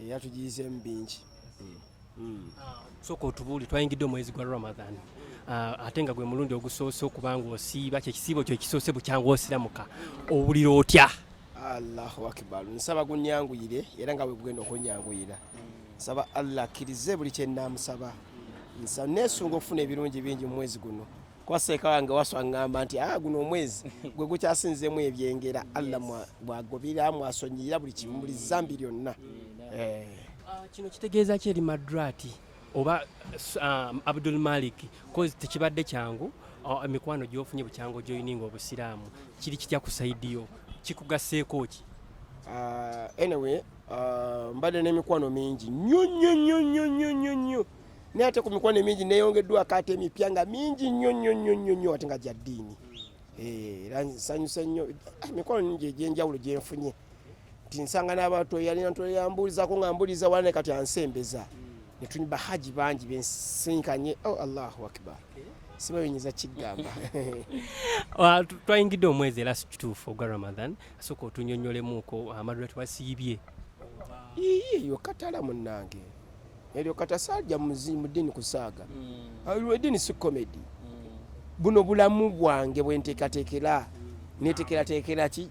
eyatugiyiseemu bingi hmm. soka otubuuli twayingidde omwezi gwa ramadan ah, ate nga gwe mulundi ogusoose okuba nga osiiba kyekisiibo kyo ekisoose bukyanga osiramuka owulira otya allahu akibar nsaba gunyanguyire era nga wegugenda okunyanguyira nsaba allah akkirize buli kyenamusaba nesunga okufuna ebirungi bingi mu mwezi guno kuba seeka wange waswa ngamba nti a ah, guno omwezi gwe gukyasinzemu ebyengera allah bwagobera mwasonyiyira buli kimu buli zambi lyonna eh. ah, kino kitegeeza ki eri madrati oba ah, abdul malik kozi tekibadde kyangu ah, emikwano gyofunye bukyangu gyoyininga obusiraamu kiri kitya ku saidiyo kikugaseeko ki anyway mbadde n'emikwano mingi nyo nyo nyo nyo nyo nyo nyo naye ate ku mikwano emingi neyongeddwako ate emipya nga mingi nnyo nnyo nnyo nnyo nnyo ate nga gya ddiini eh, era nsanyuse nnyo ah, emikwano mingi egyenjawulo gyenfunye nti nsanga n'abantu eyalina ntu eyambuulizako nga mbuliza wala ne kati ansembeza netuni bahaji bangi bensinkanye o oh, allahu akbar siba binyinza kigamba twayingidde omwezi era sikituufu ogwa ramadan asooka otunyonyolemuuko amadula twasiibye yokatala munange Elyo katasalja muzimu dini kusaga. Mm. Alwe dini si comedy. Mm. Buno bulamu bwange bwenteka tekela. Netekela tekela ki?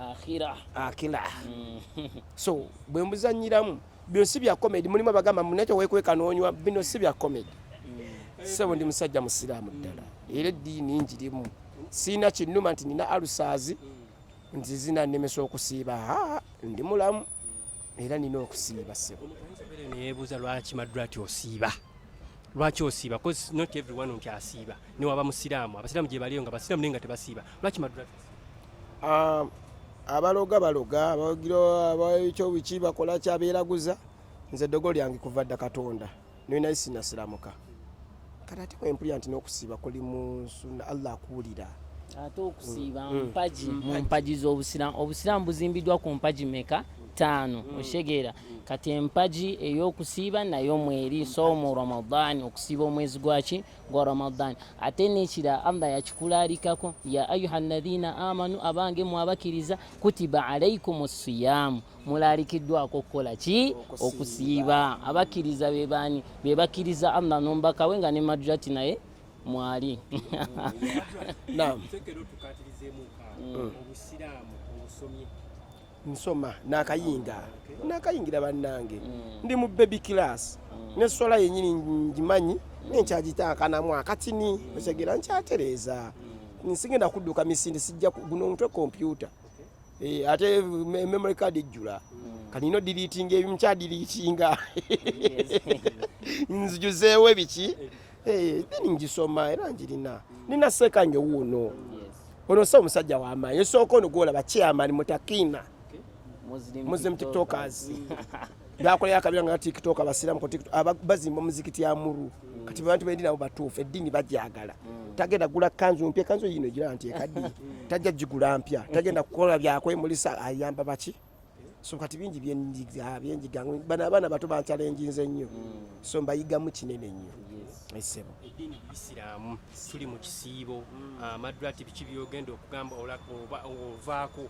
Akhira. Akhira. Mm. so, bwe mbuzanyiramu bino si bya comedy mulimu abagamba muneto wekweka nonywa bino si bya comedy. Mm. Sebo ndi musajja musiramu ddala. Mm. Era dini njirimu. Sina kinuma nti nina alusazi. Mm. nti zinanemesa okusiiba ndi mulamu era nina okusiiba sebo neyebuuza lwaki madrati osiiba lwaki osiiba bcause not everyone nti asiiba newaba musiraamu abasiraamu gyebaliyo nga basiraamu naye nga tebasiiba lwaki madrati um, abaloga baloga abagira ekyo biki bakola kyabeeraguza nze dogo lyange kuva dda katonda naye naye sinasiramuka kati ate wempulira nti n'okusiiba kuli mu nsuna allah akuwulira ate okusiiba mm. mpagi mm. mu mpagi z'obusiraamu obusiraamu buzimbiddwa ku mpagi meka ttaano mm. okitegeera kati empagi ey'okusiiba nayo mweri soomu ramadaani okusiiba omwezi gwaki gwa ramadaani ate nekira allah yakikulaalikako ya ayuha alladhina amanu abange mwabakiriza kutiba alaikum siyaamu mulaalikiddwako okukola ki okusiiba abakkiriza bebaani be bakkiriza allah n'omubaka we nga ne madrati naye mwali mm. nsoma nakayinga nakayingira bannange mm. ndi mu baby class mm. nesola yenyini ngimanyi nenkyagitaakanamu akatini otegera nkyatereeza nsigenda kudduka misinde sijja guno omutwe kompyuta Eh, ate memory card ejjula mm. kati nina odiriitinga ebimu kyadiriitinga nzijuzeewo ebiki eh, then ngisoma era njirina nina seeka nyo wuuno ono sa omusajja wamaanyi esooka ono gwolaba chairman mutakiina muslim tiktokers byakolera akabira nga tiktok abasiramu ku tiktok bazimba omuzikiti amuru kati abantu bendi nabo batuufu eddiini bajagala tagenda gula kanzu mpya kanzu yino gira nti ekaddi tajja gigula mpya tagenda kukola byakwemulisa ayamba baki so kati bingi byenjiga byenjiga bana abaana bato bancalenjinze nnyo so mbayigamu kinene nnyo esebo eddiini isiramu tuli mu kisiibo amadrati biki byogenda okugamba ovaako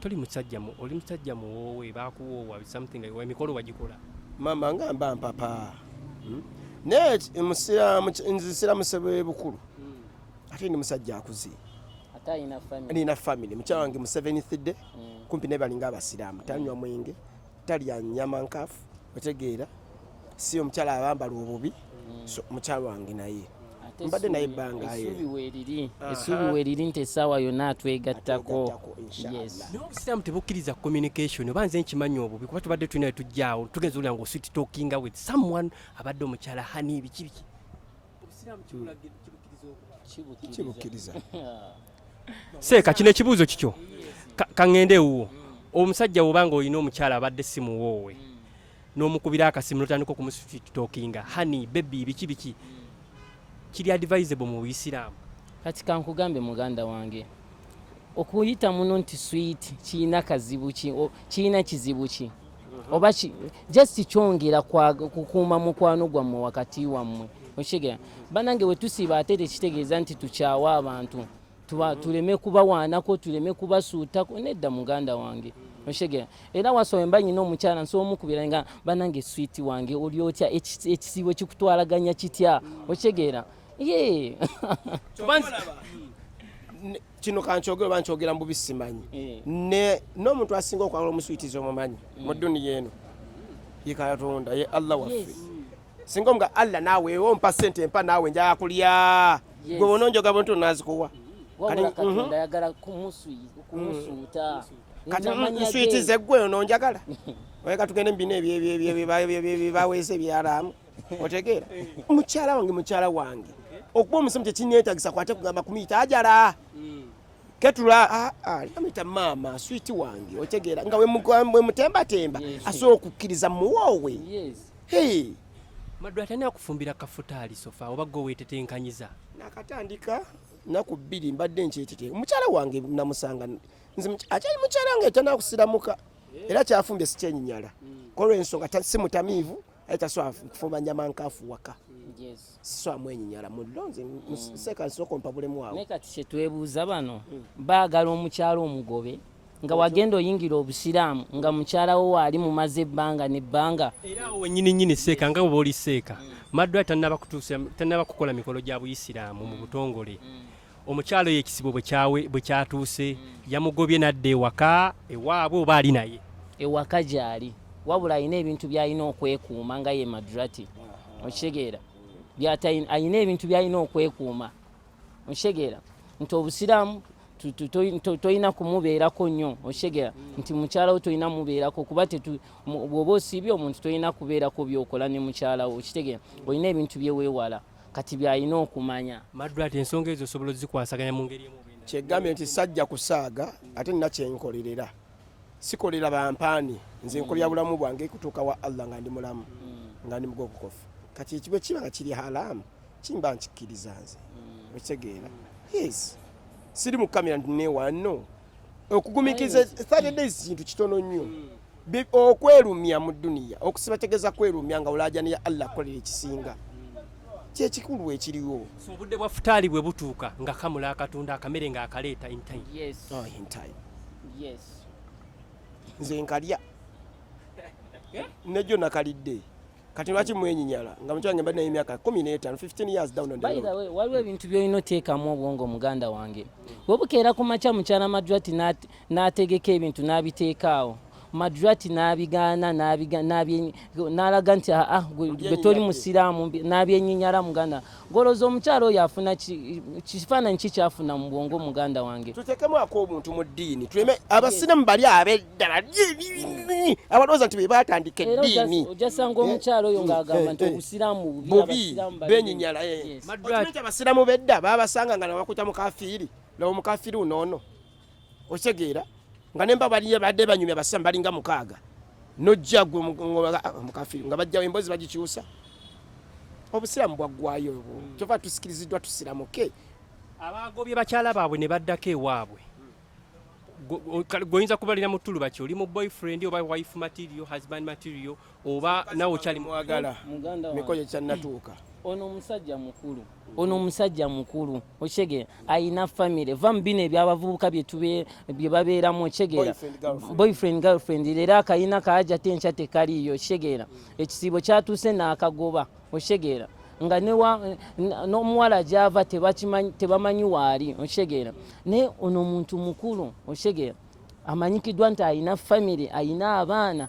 toli musajja mu oli musajja muwoowe bakuwoowa something like emikolo wagikola mama nga mba mpapa hmm? naye musiramu nze siramu sebe bukulu hmm. ate ndi musajja akuze nina family mukyala wange museveni thidde hmm. kumpi naye balinga abasiraamu tanywa mwenge talya nyama nkafu otegeera si omukyala abambala obubi so mukyala wange naye mbadde naye ebbangaaesuubi weriri nti essaawa yonna atwegattako obusiraamu tebukkiriza communication oba nze nkimanyi obubi kuba tubadde tulina wetujjaawo tugenza olira nga oswit talkinga with someone abadde omukyala hani bikibiki kibukkiriza seeka kino ekibuuzo kikyo kaŋŋende ewuwo omusajja woba nga olina omukyala abadde si muwoowe n'omukubira akasimu notandika okumusitokinga hani bebi biki biki kiri advisable mu buyisiraamu kati kankugambe muganda wange okuyita muno nti swiiti kirina kazibu ki kirina kizibu ki mhm. oba just kyongera kukuuma mukwano gwammwe wakati wammwe okitegeera banange wetusiiba ate tekitegeeza nti tukyawa abantu mhm. tuleme kubawaanako tuleme kubasuutako nedda muganda wange oshegera era wasowe mba nyina omukyala nsobola omukubira nga banange switi wange oli otya ekisiibo kikutwalaganya kitya oshegera yee kino kankyogere oba nkyogera mbubi simanyi eh. n'omuntu asinga okwagala omuswitiza omumanyi mm. mu duniya eno ye katonda ye allah waffe singa omuga allah naawe ewe ompa sente empa naawe njaya kulya gwe bona onjoga buntu nazikuwa kati nswitize gwe ono njagala oye katugende mubino ebyo baweze ebyaraamu otegeera mukyala wange mukyala wange okuba omusomi tekineetagisa kwate kugamba kumuyita ajala hmm. ketula ah, ah, amuyita maama switi wange otegeera nga wemutembatemba asobola okukkiriza muwoowe maddu atani akufumbira kafuta alisofa oba gwe wetetenkanyiza nakatandika naku bbiri mbadde nkyetete omukyala wange namusanga nze akyali mukyala wange tanakusiramuka eh. era kyafumbye sikyenyinyala hmm. kolwensonga simutamiivu aye tasobola kufumanya mankafu waka sisobola mwenyinyala mulonze museka mm. nsooka ompabulemu awo naye kati kyetwebuuza bano mm. baagala omukyalo omugobe nga wagenda oyingira obusiraamu nga mukyalawo waali mumaze ebbanga nebbanga era awo wenyini nyini seeka nga bwoba oli seeka mm. maddwa tanaba kukola mikolo gya buyisiraamu mu butongole omukyalo oyo ekizibu bwe kyatuuse yamugobye n'adda ewaka ewaabwe oba ali naye ewaka gyali wabula alina ebintu byalina okwekuuma nga ye madrati okitegeera alina ebintu byalina okwekuuma okitegeera nti obusiraamu tolina kumubeerako nnyo okitegeera nti mukyala wo tolina mubeerako kuba bwoba osiibye omuntu tolina kubeerako byokola ne mukyala wo okitegeera olina ebintu byeweewala kati byalina okumanya maddu ati ensonga ezo osobola ozikwasaganya mu ngeri emu kyegambye nti sajja kusaaga ate nina kyenkolerera sikolera bampaani nze nkolera mm. bulamu bwange kutuuka wa allah nga ndi mulamu mm. nga ndi mugokukofu kati ekibe kiba nga kiri halaamu kimba nkikkiriza nze mm. okitegeera yes siri mu kamera nti newanno okugumikiza 30 days kintu kitono nnyo hmm. okwelumya mu duniya okusiba tegeza kwelumya nga olajana ya allah akolera ekisinga kyekikulu ekiriwo obudde bwa futaali bwe butuuka nga kamula akatunda akamere nga akaleeta oh, nze nkalya eh? nejo nakalidde kati lwaki mwenyinyala nga mukyala nge mbadde naye emyaka kumi n'etaano 15 years down and by the way waliwo ebintu byolina oteekamu obwongo muganda wange webukeera ku makya mukyala madrati n'ategeka ebintu n'abiteekaawo madrati n'abigaana n'alaga nti aa ah, ah, gwe toli musiraamu n'abyenyinyala muganda goloza omukyalo oyo afuna kifaananyi kikyafuna mu bwongo muganda wange tutekemu ak'obuntu mu ddiini tuleme abasiramu bali abeddala abalowooza nti bebatandika eddiini ojasanga omukyalo oyo ng'agamba nti obusiramu bubi benyinyala abasiramu bedda babasanga nga nabakuta mukafiiri nawo mukafiiri unoono okitegeera nga nemba baliyo badde banyumya basiramu balinga mukaaga nojja gwe mukafiri nga bajjawo emboozi bagikyusa obusiramu bwaggwayo obwo hmm. kyova tusikiriziddwa tusiramuke abaagobye bakyala baabwe ne baddako ewaabwe goyinza kubalira mu tulu baki oli mu boyfriend oba wife material husband material oba nawe okyali mwagala miko gye kyannatuuka ono omusajja mukulu ono omusajja mukulu okyegera ayina famire va mubino ebyabavubuka byebabeeramu okyegera boyfriend girlfriend leero akayina kaaja te nkya tekaliiyo okyegera ekisiibo kyatuuse naakagoba okyegera nga n'omuwala gyava tebamanyi waali okyegera naye ono omuntu mukulu okyegera amanyikiddwa nti ayina famire ayina abaana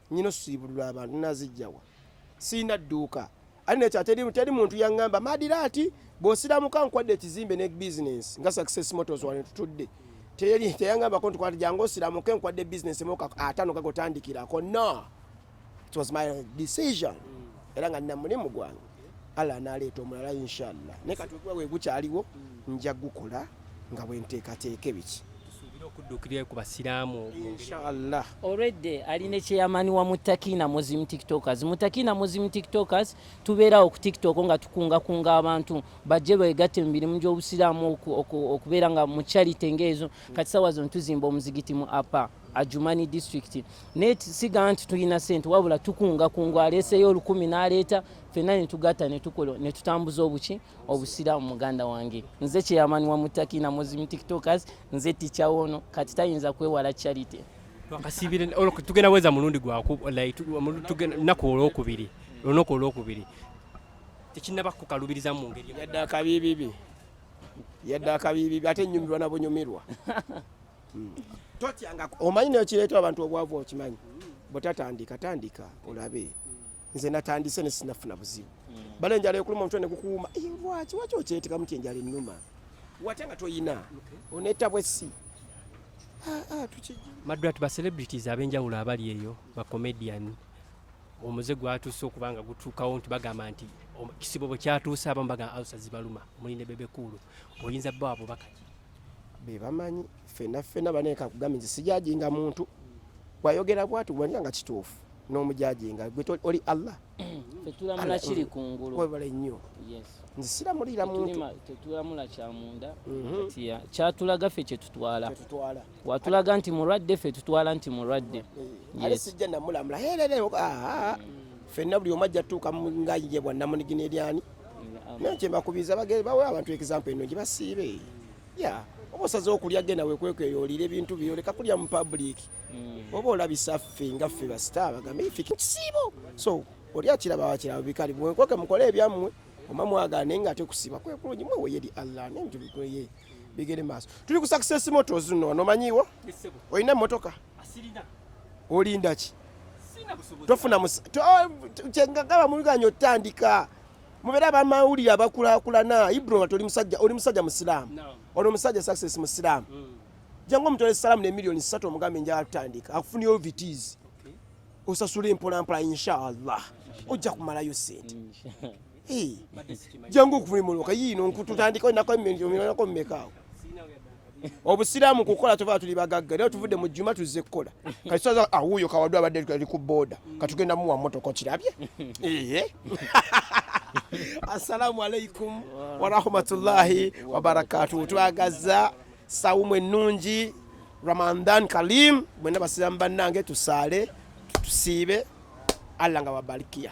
nyina osibulula abantu nazijjawa sirina dduuka ali nekyo ateri teri muntu yaŋŋamba madira ati bw'osiramuka nkwadde ekizimbe ne bizinensi nga success motors wane tutudde teri teyaŋŋambako nti kwati jangu osiramuke nkwadde bizinensi emoka atano gagotandikirako no it was my decision era nga nina mulimu gwange Allah analeeta omulala inshallah naye kati okuba wegukyaliwo mm. nja gukola nga bwenteekateeka ebiki okuddukirira ku basiraamu inshallah already ali ne chairman wa mutakina muslim tiktokers mutakina muslim tiktokers tubeerawo ku tiktok nga tukungakunga abantu bajje beegatte mu mirimu gy'obusiraamu okubeera nga mu charity ng'ezo kati sawa zino tuzimba omuzigiti mu apa ajumani district naye siga nti tulina sente wabula tukunga kungu aleeseyo olukumi n'aleeta fenna netugatta netukola netutambuza obuki obusiraamu muganda wange nze kyeyamani wa mutaki na muslim tiktokers nze ticha wono kati tayinza kwewala charity twakasiibire tugenda weza mulundi gwakunaku olwokubiri olunaku olwokubiri tekinaba kukalubiriza mu ngeri yadde akabiibibi yadde akabiibibi ate nyumirwa nabunyumirwa hmm. totyanga omanyi nayo kireeta abantu obwavu okimanyi bwetatandika tandika olabe nze natandise nesinafuna buzibu bale enjala yokuluma omutwe nekukuuma lwaki waki okyetekamu ti enjala enuma wate nga toyina onetabwe si ah, ah, madrat ba celebrities abenjawulo abali eyo ba comedian omuze gwatuuse okuba nga gutuukawo nti bagamba nti kisibo bwe kyatuuse abamu bagamba alusa zibaluma muli ne bebekuulu oyinza bo abo bakaki bebamanyi fena fena baneka kugamba nti sijajinga muntu wayogera bwatu wanyira nga kituufu n'omujajinga gwe oli allah tetulamula kiri kungulu webale nnyo nze siramulira muntu tetulamula kyamunda mhm. kyatulaga ffe kyetutwala watulaga nti mulwadde ffe tutwala nti mulwadde eh, ale sijja namulamula herereo ah, ah, ah. fenna buli omu ajja tutuuka nga ye bwannamunigina eryani naye kyembakubiza bagere bawe abantu example eno gibasiibe ya oba osaze okulya genda wekwekweyo olira ebintu byo leka kulya mu public mm. oba olabisa ffe nga ffe basita bagambe ife kisiibo so oli akiraba wakiraba bikali mwekweke mukole ebyammwe oma mwagane nga ate kusiiba kwekulungi mweweye eri allah nenjubikoye bigere maaso tuli ku success motos no nomanyiwo olina emotoka olinda ki tofuna oh, kyengagaba muluganya otandika mubeere abamawulire abakulakulana ibroma toli musajja oli musajja musiraamu ono omusajja success musiraamu mm. jangu omutole salaamu ne miliyoni satu omugambe njala tutandika akufuna ovts osasula empolampola inshallah ojja kumalayo sente jangu okuvumuluka yiino nkututandika enako emirako mumekaawo obusiraamu kukola tuva tuli bagagga naye tuvudde mu juma tuzze kukola kati tusaza awuuyo ah, kawadde abadde ali ku booda katugenda muwa motoka okirabye eye assalamu alaikum warahmatullahi wabarakatuhu twagaza sawumu ennungi ramadan kalim mwena basiramu bannange tusaale tusiibe allah nga babalikiya